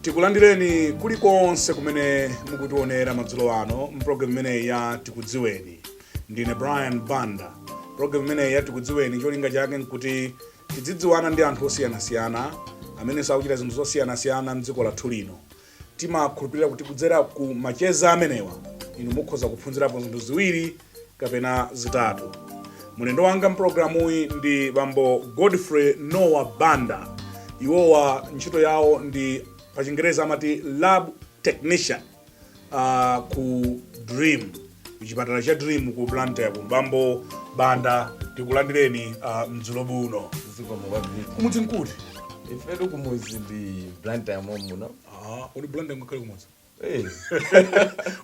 tikulandireni kulikonse kumene mukutionera madzulo ano mpulogalamu imeneyi ya tikudziweni ndine brian banda pulogalamu imeneyi ya tikudziweni cholinga chake nkuti Tidzidziwana ndi anthu osiyanasiyana amenenso akuchita zinthu zosiyanasiyana m'dziko lathu lino. Timakhulupirira kuti kudzera ku macheza amenewa, inu mukhoza kuphunzirapo zinthu ziwiri kapena zitatu. Mlendo wanga m'pulogalamuyi ndi bambo Godfrey Noah Banda. Iwowa ntchito yawo ndi pachingerezi amati lab technician. uh, ku dream kuchipatala cha dream ku blantyre bambo banda tikulandireni uh, madzulo ano zikomo kwambiri kumudzi nkuti ifetu kumudzi ndi blantyre momuno uh, kodi blantyre ungakhale kumudzi Eh,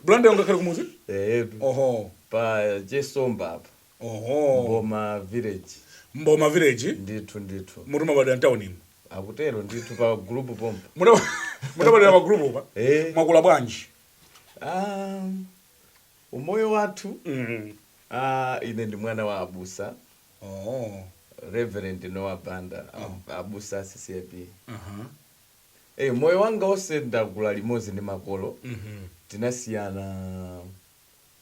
blantyre ungakhale kumudzi eyetu oho pa chesomba apa Oho. Mboma village. Mboma village. Ndithu ndithu. Ndiye kuti munabadwira m'tauni mu. Akutero ndithu pa group pompa. Ndiye kuti munabadwira pa group pa. Eh. Mwakula bwanji. Um, umoyo wathu. Mm. Ah, uh, ine ndi mwana wa abusa. Oh. Reverend Noah Banda. Oh. Abusa CCAP. Uh -huh. Hey, eh, moyo wanga wose ndakula limozi ndi makolo. Mm -hmm. Tinasiyana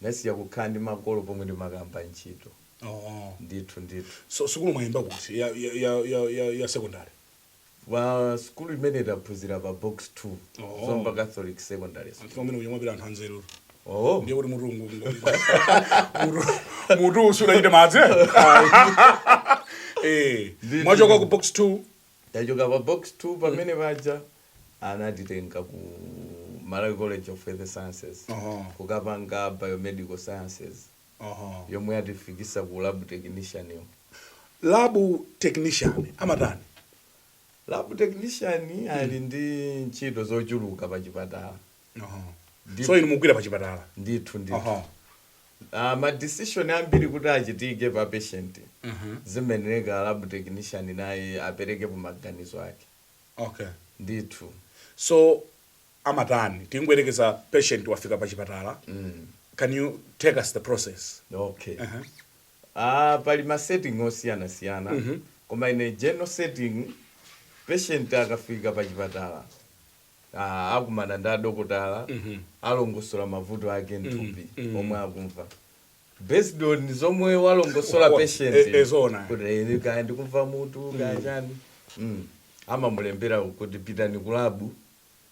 Ndasiya kukhala ndi makolo pomwe ndimakayamba ntchito. Oh. Ndithu ndithu. So sukulu mwayimba kuti ya ya ya ya ya, ya secondary? Pa sukulu imene taphunzira pa box 2. Oh. Zomba Catholic Secondary School. Anthu amene kuja amapita anthu anzeru. Oh. Ndiye kuti mutu ungu ungu. Mutu mutu usuna ite madzi. eh? Eh. Ndithu. Mwachoka ku box 2 Tachoka pa box 2 pamene paja anatitenga ku Malawi College of Health Sciences Uh-huh. kukapanga biomedical sciences Aha. yomwe yatifikisa ku lab technician yo. Lab technician amatani? Lab technician ali ndi ntchito zochuluka pa chipatala. Aha. Ndi- so inu mugwira pa chipatala ndithu ndithu Aha. Ah, ma decision ambiri kuti achitike pa patient zimayenereka lab technician naye aperekepo maganizo ake okay ndithu so amatani tingoyerekeza patient wafika pa chipatala can you take us through the process okay Aha. ah, pali ma setting osiyanasiyana koma ine general setting patient akafika pa chipatala ah, akumana ndi adokotala alongosola mavuto ake mthupi omwe akumva based on zomwe walongosola Wa- patient e- e, zoona. kuti ene kaya ndikumva mutu kaya chani Mm. amamulembera kuti pitani kulabu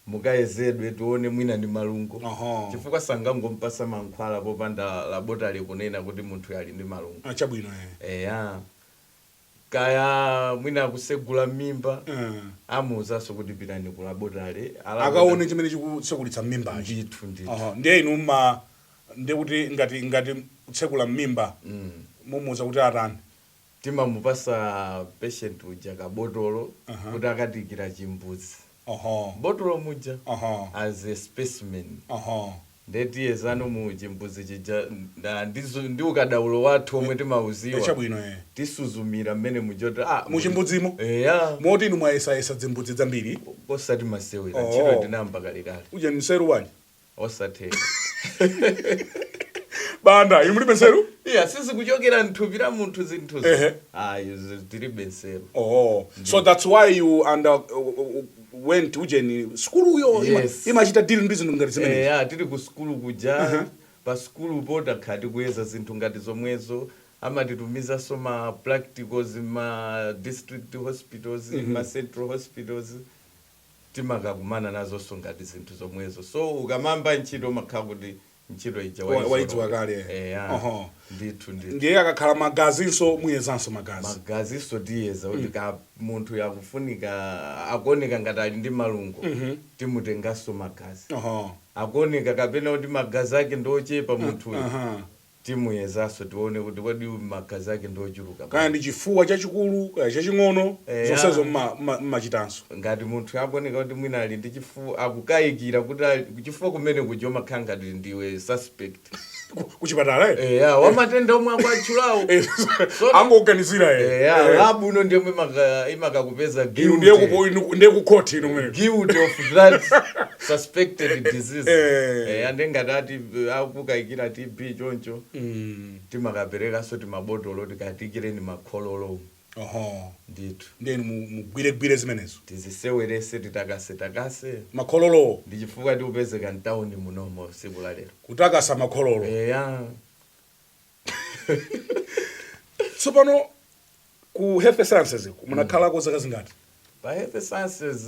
mukayezedwe tione mwina ndi malungo Aha. chifukwa sangangompasa mankhwala popanda laboratory kunena kuti munthu ali ndi malungo Ah, chabwino eh. eya kaya mwina kusegula mmimba Eh. amuuzanso kuti pitani ku laboratory akaone chimene chikusegulitsa mmimbachi ndithu ndithu Aha, ndiye inu mma ndiye kuti ngati ngati kusegula mmimba mumuuza kuti atani timamupasa patient uja kabotolo kuti akatiikira chimbudzi oho botolo muja Aha. as a specimen oho Nde tiyezano mu chimbudzi chija nda ndi zo ndi ukadaulo wathu Eh, omwe eh, timauziwa chabwino eh. tisuzumira mmenemu chot a Mu muli chimbudzimo? eya Moti inu mwayesayesa dzimbudzi dzambiri? osati masewera ntchito Oh. ndinayamba kalekale Uje ndi nseru bwanji? osatheka Banda, inu mulibe nseru? iya sizikuchokera mthupi la munthu zinthuzo Ehe. ayi zi- tilibe nseru Oh, so that's why you under uh, uh, uh, went ujeni sukuluyo ima- Yes. imachita deal ndi zinthu ngati zimenezi eya tili ku sukulu kuja Aha. pa sukulupo takhala tikuyeza zinthu ngati zomwezo amatitumizanso ma practicals ma district hospitals ma central hospitals timakakumana nazonso ngati zinthu zomwezo so ukamayamba ntchito umakhala kuti ntchito ija Wa- waizolowera. waidziwa kale. Eya. Oho. ndithu ndithu ndiye akakhala magazinso muyezanso magazi magazinso tiyeza kuti kaya munthuyo akufunika akuoneka ngati ali ndi malungo timutenganso magazi Oho. akuoneka kapena kuti magazi ake ndiochepa munthuyo Aha. timuyezanso tione kuti kodi uyu magazi ake ndiochuluka kaya ndi chifuwa chachikulu kaya chaching'ono Eya. zonsezo mma- mma- mmachitanso Ngati munthu akuoneka kuti mwina ali ndi chifuwa, akukayikira kuti ali, kuchifuwa kumene kuja umakhala ngati ndiwe suspect. Ku, ku chipatala eh? Eya, wa matenda omwe akwatchulawo. Eh, Sono- angoganizira eh. Eya, Eh. labu ino ndi yomwe imaka- imakakupeza Inu ndiye guilty. kupo- inu- ndiye ku court inu mene. guilty of that suspected disease Eh. eh, ande ngati ati eh, akukayikira tb choncho Mm. timakaperekanso timabotolo tikatiikireni makhololo oho ndithu ndiye inu mu- mugwiregwire zimenezo tiziseweretse titakasetakase makhololowo ndi chifukwa tikupezeka mtawuni munomo tsiku la lero kutakasa makhololo eya tsopano ku health sciences munakhalako zaka zingati pa health sciences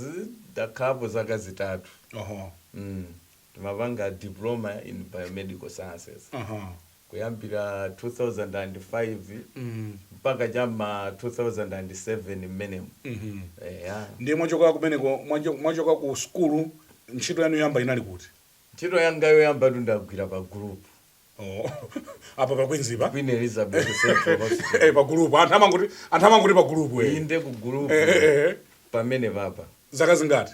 ndakhalapo zaka zitatu oho mm. Ndimapanga Diploma in Biomedical Sciences. Kuyambira 2005 mpaka cha m'ma 2007 mmenemo. Eya. Ndiye mwachoka kumeneko, mwacho- mwachoka ku sukulu, ntchito yanu yoyamba inali kuti? Ntchito yanga yoyambatu ndagwira pa Gulupu. Oh, apa pa Queens pa? Queen Elizabeth Central Eh, Hospital. pa Gulupu. Anthu amangoti, anthu amangoti pa Gulupu we. Inde ku Gulupu Eh, eh, eh. pamene papa. Zaka zingati?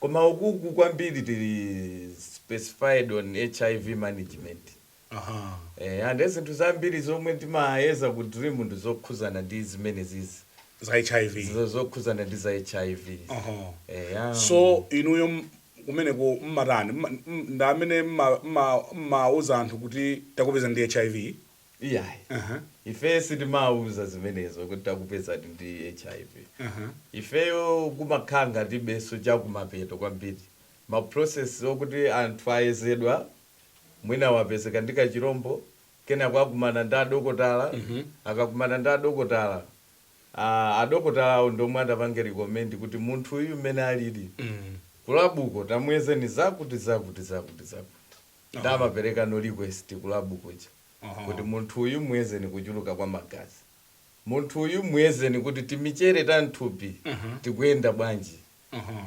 Koma ukuku kwambiri tili specified on HIV management. Eeh nde zinthu zambiri zomwe timayeza ku Dream ndi zokhuzana ndi zimenezizi. Za HIV. Zokhuzana ndi za HIV. Eya. So inuyo kumeneko mmatani? Ndi amene mmawuza anthu kuti takupezani ndi HIV? Iyayi. Aha. Ife sitimauza zimenezo kuti takupezani ndi HIV. Aha. Ifeyo kumakhala ngati beso chakumapeto kwambiri. Ma process okuti anthu ayezedwa, mwina wapezeka ndi kachilombo, kenako akumana ndi adokotala, akakumana ndi adokotala, ah, adokotalawo ndi omwe atapange recommend kuti munthu uyu mmene alili, kulabuko tamuyezeni zakuti zakuti zakuti zakuti. nde Aha. amapereka no request ku lab kuja Aha. kuti munthu uyu muyezeni kuchuluka kwa magazi, munthu uyu muyezeni kuti timichere ta mthupi Aha. tikuyenda bwanji, Aha.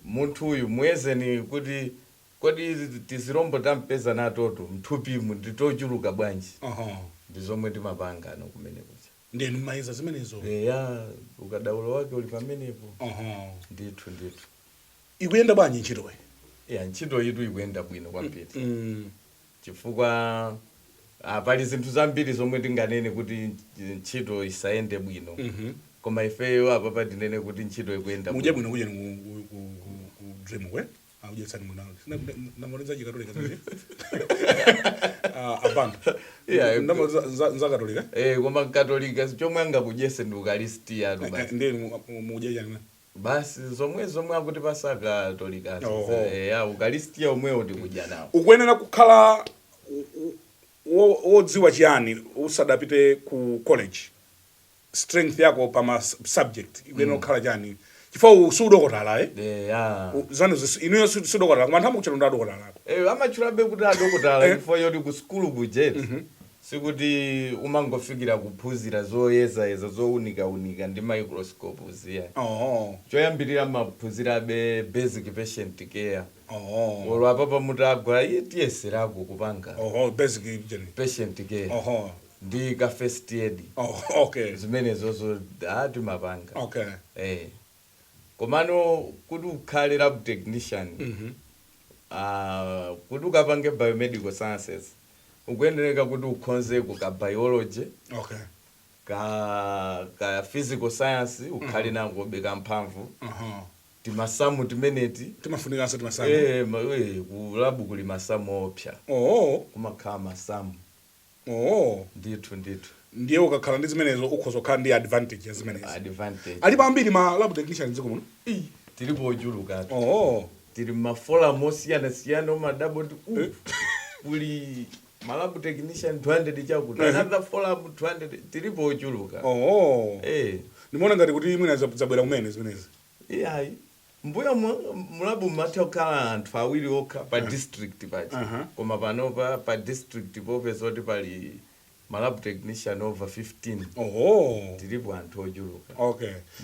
munthu uyu muyezeni kuti kodi tizirombo tampeza natotu mthupimu ndi tochuluka bwanji. Aha. Ndi zomwe timapangano kumene kuja. Nde inu mumayeza zimenezo. Eya, ukadaulo wake uli pamenepo. Aha. Ndithu, ndithu. Ikuyenda bwanji ntchitoyi? Ya, ntchitoyitu ikuyenda bwino kwambiri chifukwa ah, pali zinthu zambiri zomwe tinganene kuti nch- ntchito isayende bwino koma ifeyo apapa tinene kuti ntchito ikuyenda Mudye bwino bwino kujeni ku- ku- ku- ku- ku Dream kwe. Akudyetsani munalo. Ndamaliza chikatolika chanje. Ah, a Banda. Yeah, Ndamaliza nza- nza katolika. Eh, koma mkatolika chomwe angakudyese ndi ukalisitiyatu basi Ndiye mudye chani. Basi zomwe zomwe akutipatsa akatolikazo Oho. za- eya ukalistia omwewo tikudya nawo ukuyenera kukhala wo- wo- wodziwa chiyani usadapite ku college strength yako pa ma sub- subject ikuyenera kukhala chani chifukwa si udokotala eh? eya U- zanu zis- inuyo si si udokotala koma anthu amakutchani adokotala ako Eh, amatchulabe kuti adokotala Eh. chifukwa choti ku sukulu kujeti Sikuti umangofikira kuphunzira zoyezayeza zounikaunika ndi microscope zija. Choyambirira mmaphunzirabe basic patient care. Olo apapa mutagwa ife tiyeserako kupanga patient care ndi ka first aid zimenezozo timapanga. Komano kuti ukhale lab technician aah kuti ukapange biomedical sciences ukuyenereka kuti ukhonzeko ka biology, Okay. ka ka physical science ukhale nakobe kamphamvu, Aha. timasamu timeneti Timafunikanso timasamu. eh ma- eh, ku lab kuli masamu oopsa, Oh. kumakhala masamu. Oh. ndithu ndithu ndiye ukakhala ndi zimenezo ukhoza kukhala ndi advantage ya zimenezi alipo ambiri ma lab technician mdziko muno Ii. tilipo ochuluka oh. tili mmaforum osiyanasiyana umadabwa kuti u kuli malabu technician 200 chakuti Mhm. another forum 200 tilipo ochuluka oh. eh ndimaona ngati kuti mwina za- zabwera kumene zimenezi iyayi Mmbuyomu mulabu mumatha kukhala anthu awiri okha pa district paja koma panopa pa district popeza kuti pali ma lab technician over 15 tilipo anthu ochuluka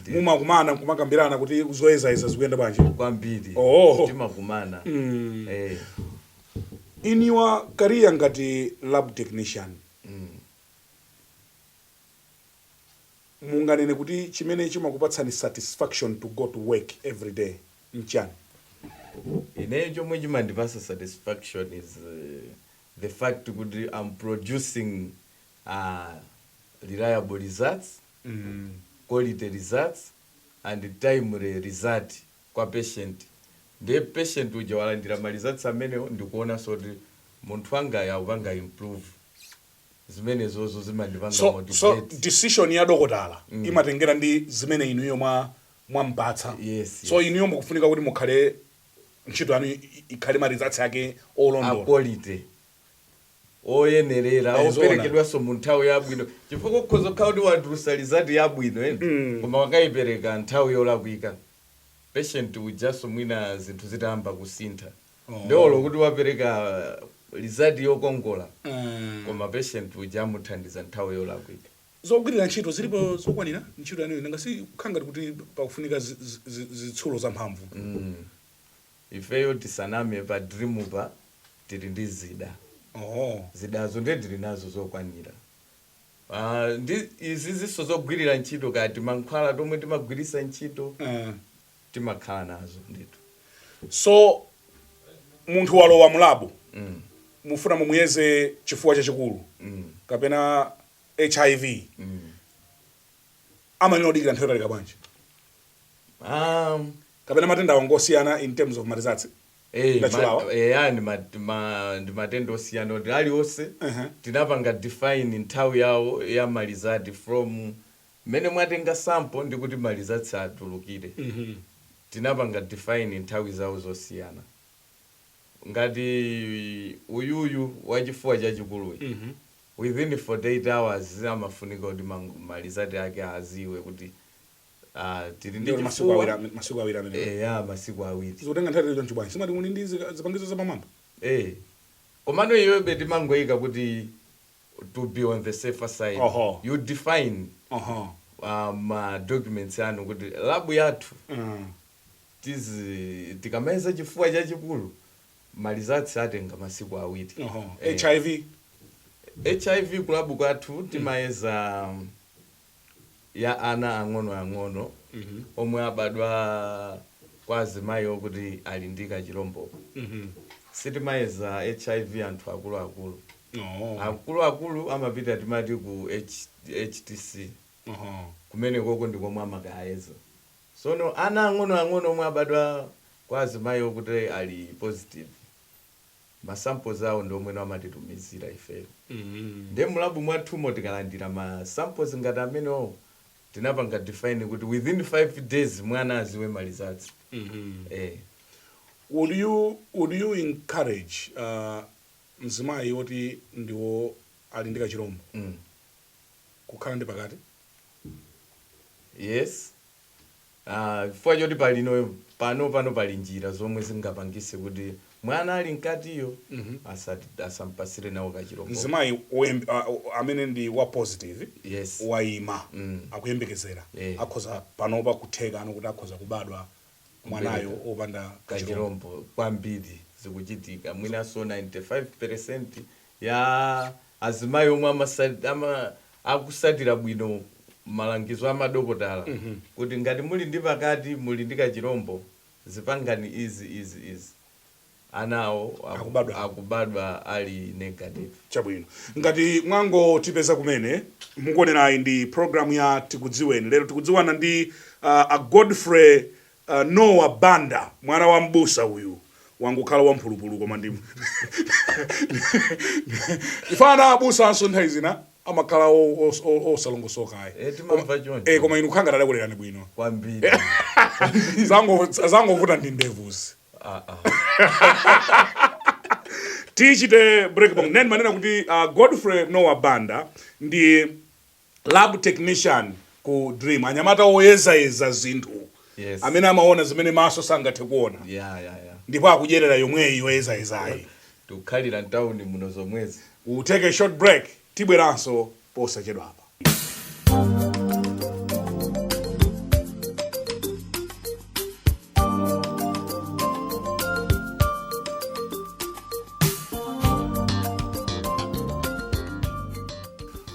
ndithu. Mumakumana nkumakambirana kuti zoyezayeza zikuyenda bwanji? Kwambiri timakumana eeh. In your career ngati lab technician, Munganene kuti chimene chimakupatsani satisfaction to go to work everyday nchani? Ineyo chomwe chimandipasa satisfaction is the fact kuti am producing reliable results, quality results and timely results kwa patient nde patient uja walandira ma results amenewo ndikuonanso kuti munthu wangayu akupanga improve. zimenezozo zimandipanga so, so motivate decision ya dokotala imatengera ndi zimene inuyo mwa mwampatsa Yes, so yes. inuyo mukufunika kuti mukhale ntchito yanu i- i- ikhale ma results ake a olondola quality oyenerera Eh, zoona. operekedwanso mu nthawi yabwino chifukwa ukhoza kukhala kuti watulusa lizati yabwino koma wakayipereka nthawi yolakwika patient ujanso mwina zinthu zitayamba kusintha Oh. nde olo kuti wapereka lizati yokongola Ah. koma patient uja amuthandiza nthawi yolakwika zogwirira ntchito zilipo zokwanira ntchito yanuyo nanga si kukhala ngati kuti pakufunika zi- zi- zi- zitsulo zamphamvu ifeyo tisaname pa dream pa tili ndi zida oho zidazo ndiye tili nazo zokwanira Ah, ndi izizinso zogwirira ntchito kaya timankhwala tomwe timagwirisa ntchito Ah. timakhala nazo ndithu so munthu walowa mulabu mm. mufuna mumuyeze chifuwa chachikulu mm. kapena hiv mm. amayenera kudikira nthawi yotalika bwanji um, kapena matendawa ngosiyana in terms of marizatsi Eh, eh, ndi matenda osiyana kuti aliwonse uh-huh. tinapanga define nthawi yawo ya malizati from Mmene mwatenga sample ndi kuti ma results atulukire tinapanga define nthawi zawo zosiyana. Ngati uyuyu wa chifuwa chachikuluyu within 48 hours amafunika kuti ma ma result ake aziwe kuti aah tili ndi Ndiye kuti masiku chifuwa, awiri, masiku awiri amenewo. eya masiku awiri. Zikutenga nthawi yaitali chonchi bwanji? Simwati muli ndi zipangizo zapamwamba? Eeh komano iwebe timangoika kuti. to be on the safer side Oho. you define Aha. uh, ma documents anu kuti labu yathu Mm. tizi tikamayeza chifuwa chachikulu malizatsi atenga masiku awiri Aha. Eh, hiv hiv kulabu kwathu timayeza um, ya ana ang'onoang'ono omwe abadwa kwa azimayi okuti ali ndi kachilombo sitimayeza hiv anthu akuluakulu Oh. akuluakulu amapita timati ku H- htc Oho. kumenekoko ndi komwe amakayeza sono ana ang'onoang'ono omwe abadwa kwa azimayi okuti ali positive ma samples awo ndi omwewo amatitumizira ifeyo nde mu lab mwathumo tikalandira ma samples ngati amenewowo tinapanga define kuti within 5 days mwana aziwe ma results eh. Would you would you encourage uh, mzimayi woti ndiwo ali ndi kachilombo kukhala ndi pakati? Yes. Ah, chifukwa choti pali no, pano pano pali njira zomwe zingapangise kuti mwana ali mkatiyo asati asampasire nawo kachirombo. mzimayi woyemb- a- a- amene ndi wa positive Yes. wayima akuyembekezera Eh. akhoza panopa kuthekano kuti akhoza kubadwa mwanayo opanda kachirombo kachirombo kwambiri zikuchitika mwinanso 95% ya azimayi omwe amasat, ama, akusatira bwino malangizo a madokotala kuti ngati muli ndi pakati, muli ndi kachilombo, zipangani izi, izi, izi. Ana awo aku, Akubadwawo. akubadwa ali negative. Chabwino. Ngati mwangotipeza kumene, mukuonerayi ndi program ya Tikudziweni. Lero tikudziwana ndi uh, a Godfrey A Noah Banda, mwana wa m'busa uyu wangokhala wa mphulupulu koma ndi chifukwa ana abusanso nthawi zina amakhala o- os- o- osalongosoka ayi. Eh, timamva Koma- choncho. eh, koma inu khanga tadakulerani bwino kwambiri Zango- zangovuta ndi ndevuzi Ah, ah. tichite break pang'ono ndimanena kuti uh, godfrey noah banda ndi Lab technician ku dream anyamata woyezayeza zinthu Yes. amene amaona zimene maso sangathe kuona Yeah, yeah, yeah. ndipo akudyerera yomweyi yoyezayezayi Tikukhalira mtauni muno zomwezi. We'll take a short break tibweranso posachedwapa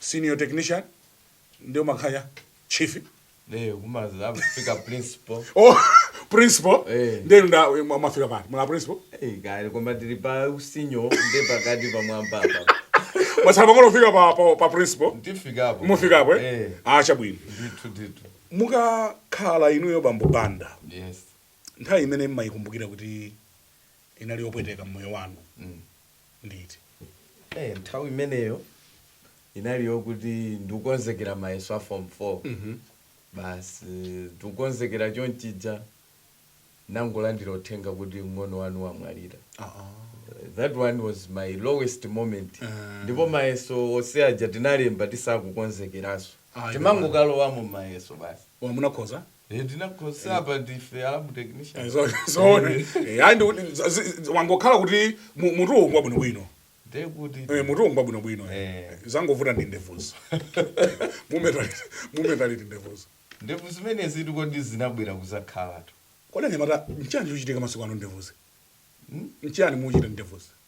senior technician ndiye makhala chief nde kumadzafika principal oh principal eh ndiye ndamafika pale mwa principal eh kaya pamwamba tili pa usenior ndiye pakati pamwamba apa posachedwa ngofika pa pa, pa principal ndifika apo mufika apo eh ah chabwino ndithu ndithu mukakhala inuyo bambo banda yes nthawi imene mmayikumbukira kuti inali yopweteka mmoyo wanu mm. liti? Eh, nthawi imeneyo inali yokuti ndikukonzekera mayeso a form 4 basi ndikukonzekera chonchija nangolandira uthenga kuti mng'ono wanu wamwalira that one was my lowest moment ndipo mayeso onse aja tinalemba tisakukonzekeranso Ah, timangokalowamo mayeso basi Ah munakhoza? Eh, ndinakhoza apa ndife a lab technician Eh, zo- zoona Eh, Eh, ayi ndikuti za- zi- zi- wangokhala kuti mu- mutuwo ngwabwinobwino ndiye kuti Eh, mutuwo ngwabwinobwino Eh. zangovuta ndi ndevuzo Mumeta liti- mumeta liti ndevuzo ndevu zimenezitu kodi zinabwera kuzakhalatu kodi anyamata nchiyani chochitika masiku ano ndevuzi nchiyani muchita ndevuzi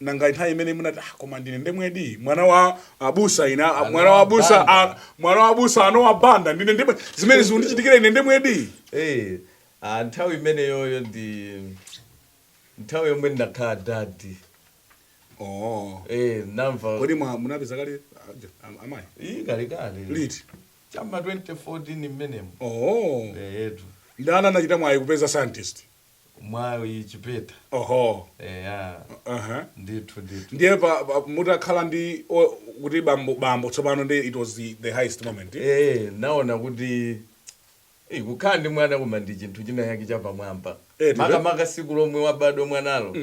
Nanga nthawi imene munati ah, koma ndine ndemwedi mwana wa abusa ine ah, mwana wa abusa ah, Banda. mwana wa abusa a Nowa banda ndine ndemwe zimene zikundichitikira ine ndemwedi Eh, ah, nthawi imeneyoyo ndi nthawi yomwe ndakhala daddy oh. Eh, namva kodi mwa- munapeza kale aja, am- amayi iyi kalekale liti cha mma 2014 mmenemo oh. eyetu ndani anachita mwayi kupeza scientist mwayi chipeta Oho. eya Aha. ndithu ndithu Ndiye pa, pa mutakhala ndi o- kuti bambo bambo tsopano ndi it was the, the highest moment. Eh, naona kuti eh, kukhala ndi mwana koma ndi chinthu china chake chapamwamba Eh, tibe. makamaka siku lomwe wabadwa mwanalo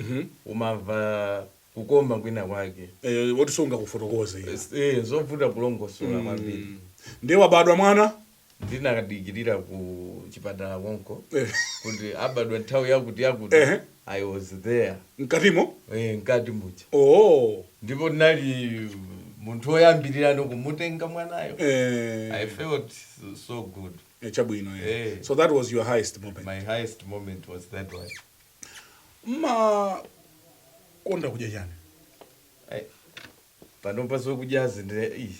umamva kukoma kwina kwake Eh, woti sungakufotokoze. iwe. Eh, zovuta kulongosola kwambiri Ndiye wabadwa mwana ndinakadikirira ku chipatala konko Eh. kuti abadwa nthawi yakuti yakuti Ehe. i was there mkatimo eh, mkati muja oh ndipo ndinali munthu oyambirirano kumutenga mwanayo i eh, felt so- so good eh, chabwino eh. Eh. so that was your highest moment my highest moment was that one mmakonda kudya chani Ai, panopa zokudyazi ndine ii,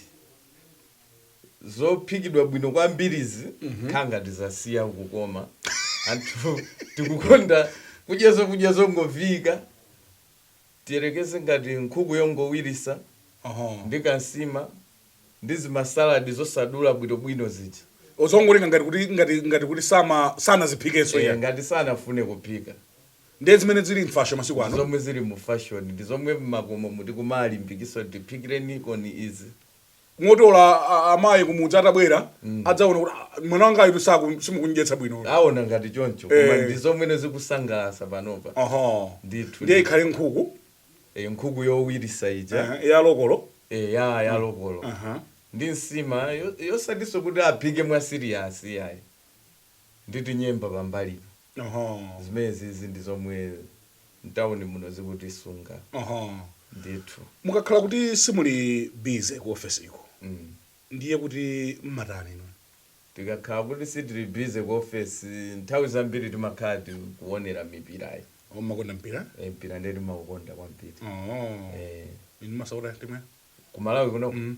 zophikidwa bwino kwambirizi zikhala ngati zasiya kukoma anthu tikukonda kudya zakudya zongoviika tiyerekeze ngati nkhuku yongowirisa Oho. ndi kansima ndi zimasaladi zosadula bwinobwino zija ozongolenga ngati kuti ngati ngati kuti sama sanaziphikenso Eh, iya ngati sanafune kuphika ndiye zimene zili mfasho masiku ndi ano zomwe zili mu fashion ndi zomwe mmakomo muti kumalimbikitsa tiphikireni koni izi moti ola a- a- amayi kumudzi atabwera adzaona kuti "Ah, mwana wanga itu s- simukundyetsa bwino aona ngati choncho Eh. koma ndi zomwe zikusangalatsa panopa Aha. Ndithu. ndiye ikhale nkhuku Eh, nkhuku yowirisa ija eh, ya lokolo eh, ya ya lokolo Aha. ndi nsima yo- yosatinso kuti aphike mwa siriyasi yayi nditi nyemba pambalipo Oho. Zimenezizi ndi zomwe mtauni muno zikutisunga Oho. ndithu. Mukakhala kuti simuli busy ku office ko Mm. ndiye kuti mmatani inu? Tikakhala kuti sitili busy ku office nthawi zambiri timakhala tikuonera mipirayi. Oh, mmakonda mpira? Eh, mpira ndiye timaukonda kwambiri. Oho. Eh. Inu mmasapota timu ya? Ku Malawi kunoko? Mm.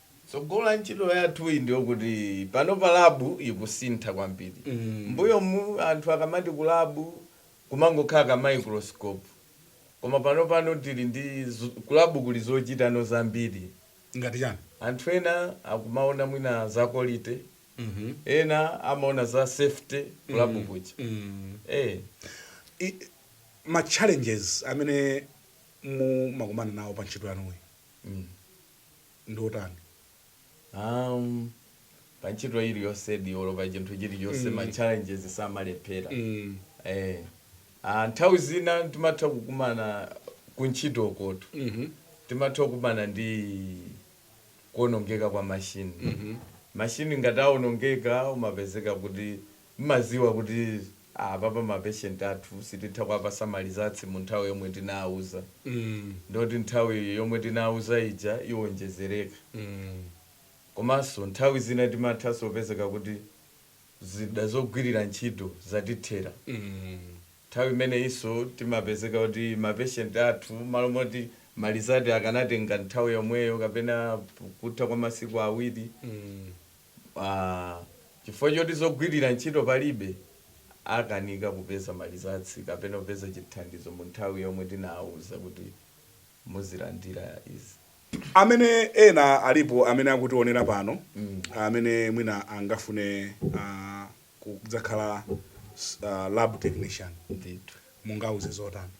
Tsogolo la ntchito yathuyi ndi lokuti panopa labu ikusintha kwambiri. M'mbuyomu anthu akamati kulabu kumangokhala ka microscope koma panopano tili ndi kulabu kuli zochita no zambiri. Ngati chani? Anthu ena akumaona mwina za quality, ena amaona za safety kulabu kuja. Eeh. I, ma challenges amene mumakumana nawo pa ntchito yanuyi. ndi otani? Um, pa ntchito iliyonsedi olo pa chinthu chilichonse ma challenges samalephera Mm. eh, ah, nthawi zina timatha kukumana ku ntchito kutoti Mhm. timatha kukumana ndi kuonongeka kwa mashini mashini ngati aonongeka umapezeka kuti Mmaziwa kuti apapa ma patient athu sititha kuwapasa ma results mu nthawi yomwe tinawauza ndiye kuti nthawi yomwe tinawauza ija iwonjezereka komanso nthawi zina timathanso kupezeka kuti zida zogwirira ntchito zatithera nthawi imeneyinso timapezeka kuti ma patient athu malo moti ma result akanatenga nthawi yomweyo kapena kutha kwa masiku awiri Aaa chifukwa choti zogwirira ntchito palibe akanika kupeza ma results kapena kupeza chithandizo mu nthawi yomwe tinawauza kuti muzilandira izi. Amene ena alipo amene akutionera pano amene mwina angafune kudzakhala lab technician Ndithu. mungauze zotani?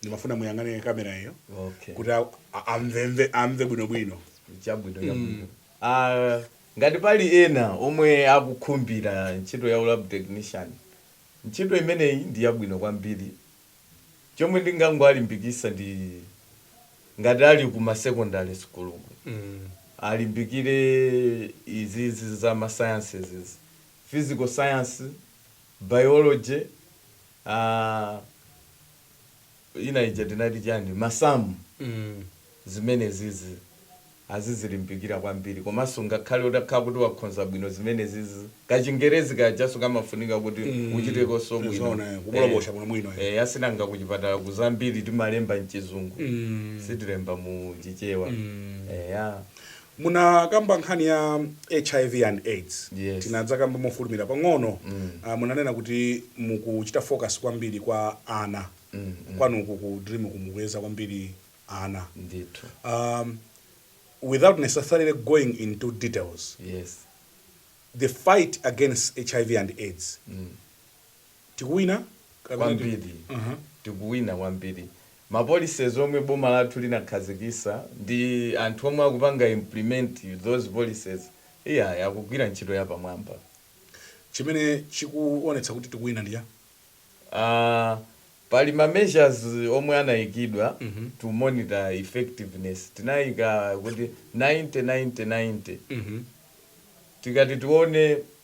ndimafuna muyang'ane kamera iyo okay kuti a- a- amvemve amve bwinobwino chabwino chabwino Ah, ngati pali ena omwe akukhumbira ntchito ya lab technician ntchito imeneyi ndi yabwino kwambiri chomwe ndingangowalimbikisa ndi ngati ali ku masecondary school alimbikire izizi za ma sciences izi. physical science Biology aah ina ija tinati chani masamu mmh zimenezizi azizilimbikira kwambiri komanso ngakhale utakhala kuti wakhonza bwino zimenezizi kachingerezi kajanso kamafunika kuti uchitekonso mmh bwino zoona eh kubolobosha bwino bwino eh eya si nanga kuchipatala ku zambiri timalemba mchizungu mmh sitilemba mu chichewa mmh eya. Munakamba nkhani ya hiv and aids Yes. tinadzakamba mofulumira pang'ono Ah, munanena kuti mukuchita focus kwambiri kwa ana kwanuku ku dream ku mukuyeza kwambiri ana ndithu um, without necessarily going into details yes the fight against hiv and aids Tikuwina kapena tiku kwambiri Aha. tikuwina kwambiri ma policies omwe boma lathu linakhazikisa ndi anthu omwe akupanga implement those policies iyayi akugwira ntchito yapamwamba. Chimene chikuonetsa kuti tikuwina ndi chiyani? Aaa pali ma measures omwe anaikidwa to monitor effectiveness tinaika kuti 90 90 90 tikati tione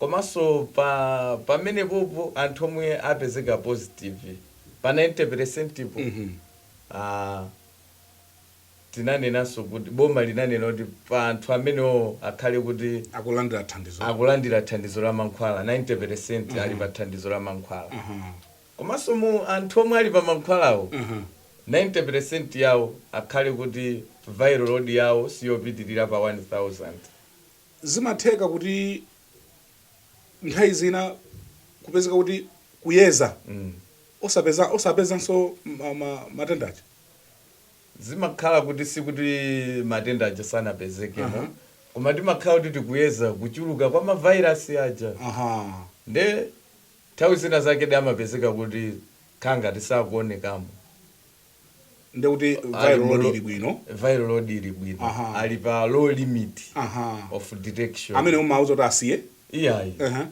Komanso pa pamenepopo anthu omwe apezeka positive pa 90 peresentipo aah tinanenanso kuti boma linanena kuti pa anthu amenewowo akhale kuti Akulandira thandizo. akulandira thandizo la mankhwala 90 peresenti ali pa thandizo la mankhwala. Komanso mu anthu omwe ali pa mankhwalawo 90 peresenti yawo akhale kuti viral load yawo siyopitirira pa 1000. Zimatheka kuti nthawi zina kupezeka kuti kuyeza osapeza osapezanso ma ma matenda aja. Zimakhala kuti sikuti matenda aja sanapezekemo Aha. koma timakhala kuti tikuyeza kuchuluka kwa ma virus aja Aha. nde nthawi zina zake de amapezeka kuti kukhala ngati sakuonekamo. nde kuti viral load ili bwino viral load ili bwino Aha. ali pa low limit aha of detection amene umauza kuti asiye iyayi Aha.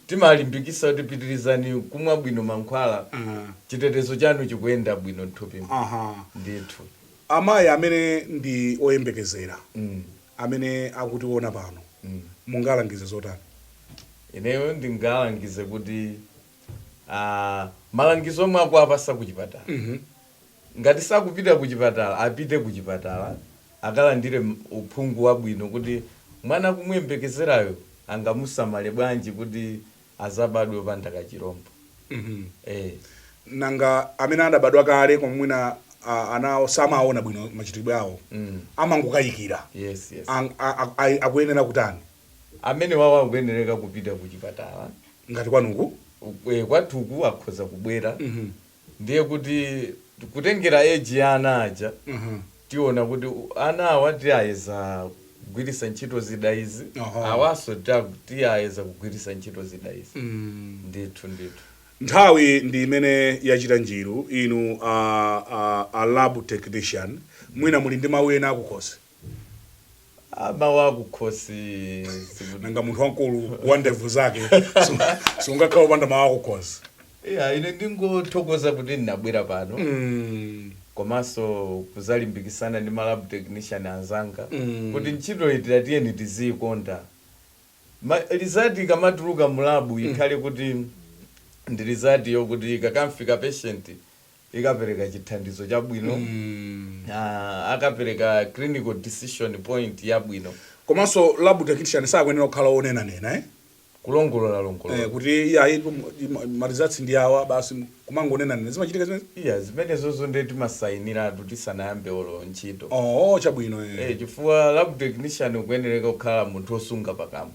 timalimbikisa kuti pitirizani kumwa bwino mankhwala Aha. chitetezo chanu chikuyenda bwino mthupi aha ndithu amayi amene ndi oyembekezera Mm. amene akutiona pano mungalangize zotani ineyo ndingalangize kuti ah, malangizo omwe akuwapasa ku chipatala ngati sakupita ku chipatala apite ku chipatala akalandire m- uphungu wabwino kuti mwana akumuyembekezerayo angamusamale bwanji kuti azabadwe opanda kachirombo eh. nanga amene adabadwa kale koma mwina ah, ana awo samaona bwino machitidwe awo amangokayikira yes yes Ang- a- a- a- akuyenera kutani amenewawo akuyenereka kupita kuchipatala. ngati kwanuku. e Kwathuku akhoza kubwera ndiye kuti kutengera age ya ana aja tiona kuti ana awa tiayeza kugwiritsa ntchito zida izi, Aha. awanso ta- tiwayeza kugwiritsa ntchito zida izi. Ndithu, ndithu. Nthawi ndi imene yachita njiru inu a, a, a lab technician mwina muli ndi mawu ena akukhosi. Ah, mawu akukhosi sikuti nanga munthu wamkulu wa ndevu zake sunga- sungakhala opanda mawu akukhosi iya ine ndingothokoza kuti ndinabwera pano Mm, komanso kuzalimbikisana ndi malab technician anzanga Mm. kuti ntchito itira tiyeni tiziyikonda Ma- lizati ikamatuluka mulabu ikhale kuti ndi lizati yokuti ikakamfikira patient ikapereka chithandizo chabwino mm. uh, akapereka clinical decision point yabwino komanso lab technician sakuyenera kukhala onena nena eh? kulongolola longolola eh, kuti iyayi malizatsi ndi awa basi kumangonena nena zimachitika zimene iya zimenezozo ndiye timasayiniratu tisanayambe olo ntchito oh, oh chabwino eh. eh, chifukwa lab technician ukuyenereka kukhala munthu osunga pakamwa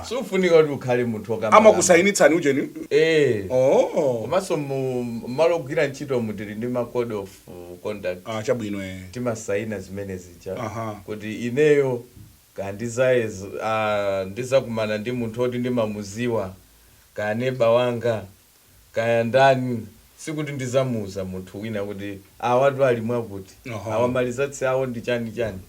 siufunika kuti ukhale munthu okamba amakusayinitsani ujeni eh oh komanso mu malo ogwira ntchito mu tili ndi ma code of conduct ah chabwino eh timasayina zimene zija Aha. kuti ineyo kaya ndizayeza ah, ndizakumana ndi munthu oti ndimamuziwa kaya neba wanga kaya ndani sikuti ndizamuuza munthu wina kuti awatu ali mwakuti Aha. awa malizatsi awo ndi chani chani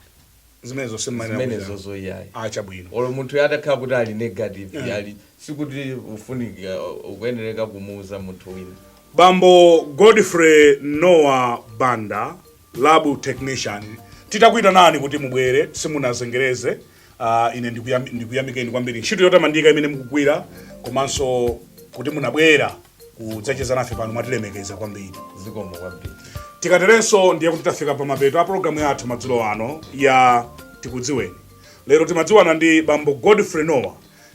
zimenezozo iyayi ah chabwino olo munthu uyu atakhala kuti ali negative Yeah. ali sikuti ufunika ukuyenereka kumuuza munthu wina bambo godfrey noah banda Lab technician titakuitanani kuti mubwere simunazengereze. Uh, ine ndikuyam- ndikuyamikeni kwambiri ntchito yotamandika imene mukugwira komanso kuti munabwera kudzacheza nafe pano mwatilemekeza kwambiri zikomo kwambiri tikaterenso ndiye kuti tafika pa mapeto a pologalamu yathu madzulo ano ya tikudziweni lero timadziwana ndi bambo godfrey nowa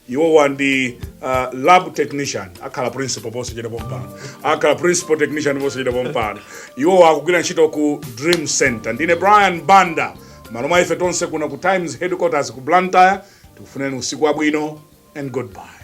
iwowa ndi uh, lab technician akhala principal posachedwa pompano akhala principal technician posachedwa pompano iwowa akugwira ntchito ku dream center ndine brian banda malo mwa ife tonse kuno ku times headquarters ku blantyre tikufunireni usiku wabwino and goodbye